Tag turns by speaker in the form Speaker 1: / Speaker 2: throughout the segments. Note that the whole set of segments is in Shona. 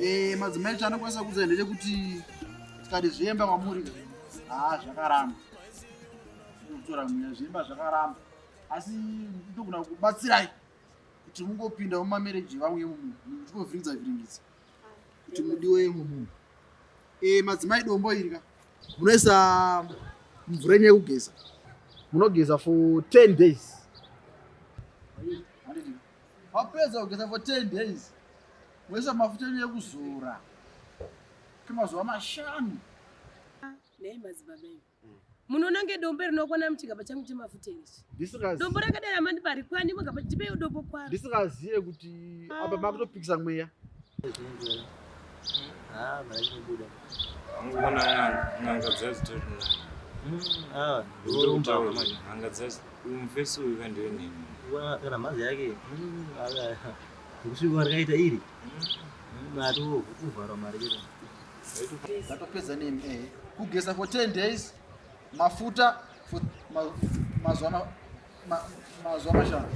Speaker 1: Eh, madzimai chanokwanisa kuudza ndechekuti tikati zviemba kwamuri haa zvakaramba kutora mweya zviemba zvakaramba asi ndogona kubatsirai kuti mungopinda mumamereji vamwe yemumunhu muchigovhiringiza vhiringidza kuti mudiwe yemumunhu eh, madzimai dombo iri ka munoisa mvura yenyu yekugeza munogeza for 10 days wapedza kugeza for 10 days Wesa mafuta enyu ekuzora kemazuva mashanu.
Speaker 2: Nei madzibaba iwe hmm. munoona nge dombo rinokwana muchigaba changu chemafuta ichi dombo rakadai amandipa rikwani mugaba ndipeiwo dombo kwaro ndisingazive kuti
Speaker 1: ah. apa makutopikisa mweya
Speaker 3: ah, ngona
Speaker 4: n'anga dzazitori n'anga dzazi mufesi uyu kandiwe nemi kana mhazi
Speaker 3: yake hmm, Kusvika rakaita iri. Mari kuvhara mari iri.
Speaker 1: Vatopedza nemi eh. Kugeza for 10 days mafuta for mazuva mazuva mashanu.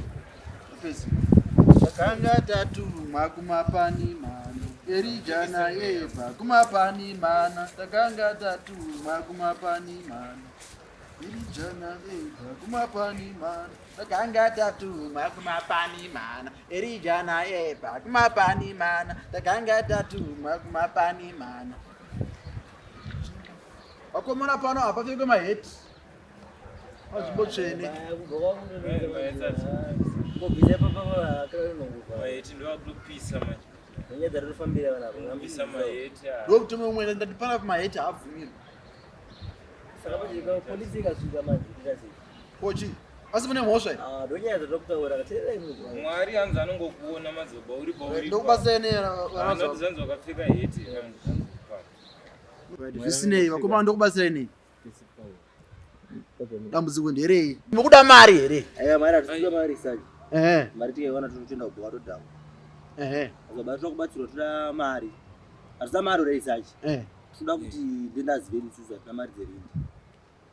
Speaker 1: Tapedza. Takanga tatumwa kumapani mano. Erija naye Eva kumapani mana. Takanga tatumwa kumapani mano. Erija naye Eva kumapani mano. takanga tatuma kumapani mana erija naeva kumapani mana takanga tatuma kumapani mana vakomona pano hapapfekwe maheti panzvimbo tsvene
Speaker 4: ndokuti mwe umwe
Speaker 1: ndatipana maheti haabvumirwe saka
Speaker 3: polisi ikasvika manje Kochi,
Speaker 1: asi mune mhosva here? Ah, ndonyaya dzatokutaura
Speaker 3: kateerei mugwa. Mwari hanzi
Speaker 4: anongokuona mazoba uri pauri. Ndokubatsireni era Ah,
Speaker 1: not vanazo. zvanzi
Speaker 4: wakapfeka heti. hanzi-
Speaker 1: hanzi papa. Zvisinei vakomana ndokubatsirai nei? Dambudziko nderei? Mukuda mari here? Aya mari hatikuda mari
Speaker 3: sani. Ehe, Mari tikaiwana totoenda kubhowa todhakwa. ehe, Azobati tokubatsirwa toda mari. Hatisa mari uri sachi. ehe. Tinoda kuti ndendazive nitsuza tina mari dzerindi.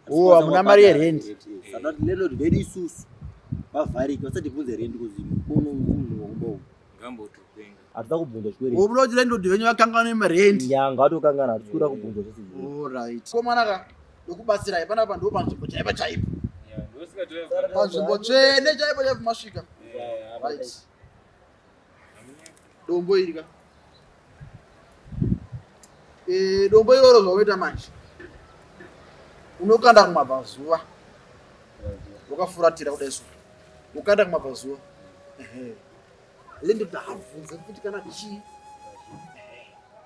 Speaker 3: Oh, hamuna
Speaker 1: mari yerent. Saka landlord
Speaker 3: vedu isusu vavhariki vasati bvunze rent kuzi mukono munhu wakumba uyu. Ngamboto
Speaker 4: kupenga. Hatida kubvunza
Speaker 3: chikwere. Wobuda kuti landlord venyu
Speaker 1: vakangana nemarent. Nyanga watokangana hatisi
Speaker 3: kuda kubvunza zvese. All right. Komana ka
Speaker 1: ndokubatsira ipa napa ndipo panzvimbo chaipa chaipa. Panzvimbo tsvene chaipa chaipa masvika. Right. dombo iri ka eh, dombo iroro zvaunoita manje unokanda kumabvazuva wakafuratira kudai so ukanda kumabvazuva lindidabvunze kuti kana chii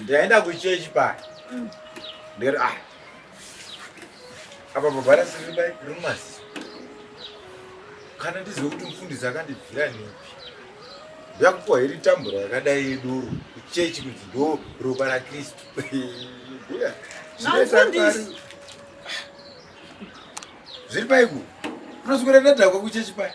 Speaker 5: ndaenda kuchechi paya mm. ndiri ah apa baba rasiribai rumasi kana ndizive kuti mufundisi akandibvira nepi ndakupuwa iri tambura yakadai yedoro kuchechi kunzi ndo ropa rakristu zviri paiku unoswera ndadhakwa kuchechi paya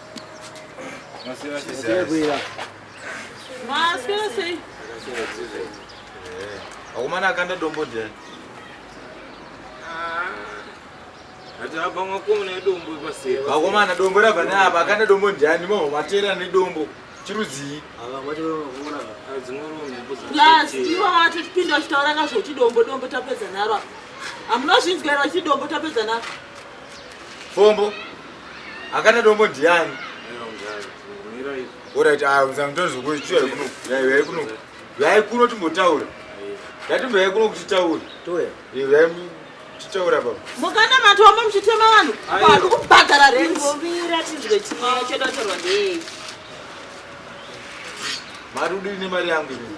Speaker 5: akomana akanda dombo ndiani
Speaker 4: vakomana dombo rabva
Speaker 5: neapa akanda dombo ndiani mavo mateera nedombo chirudzii
Speaker 6: ivo vatipinda vachitaura kazvoti dombo dombo tapedza naro amunozvinzwa iro vachiti dombo tapedza naro
Speaker 5: Fombo. Akana dombo ndiani? Alright, ah uzangitonzo kuchiya kuno. Yayi yayi kuno. Yayi kuno timbotaura. Ndatimbo yayi kuno kuti taura. Toya. Yayi tichaura baba mukana matoma
Speaker 6: muchitema vanhu vanhu kubhadhara rengovira tinzwe
Speaker 2: chimwe chedotorwa ndei
Speaker 5: mari udini mari yangu inini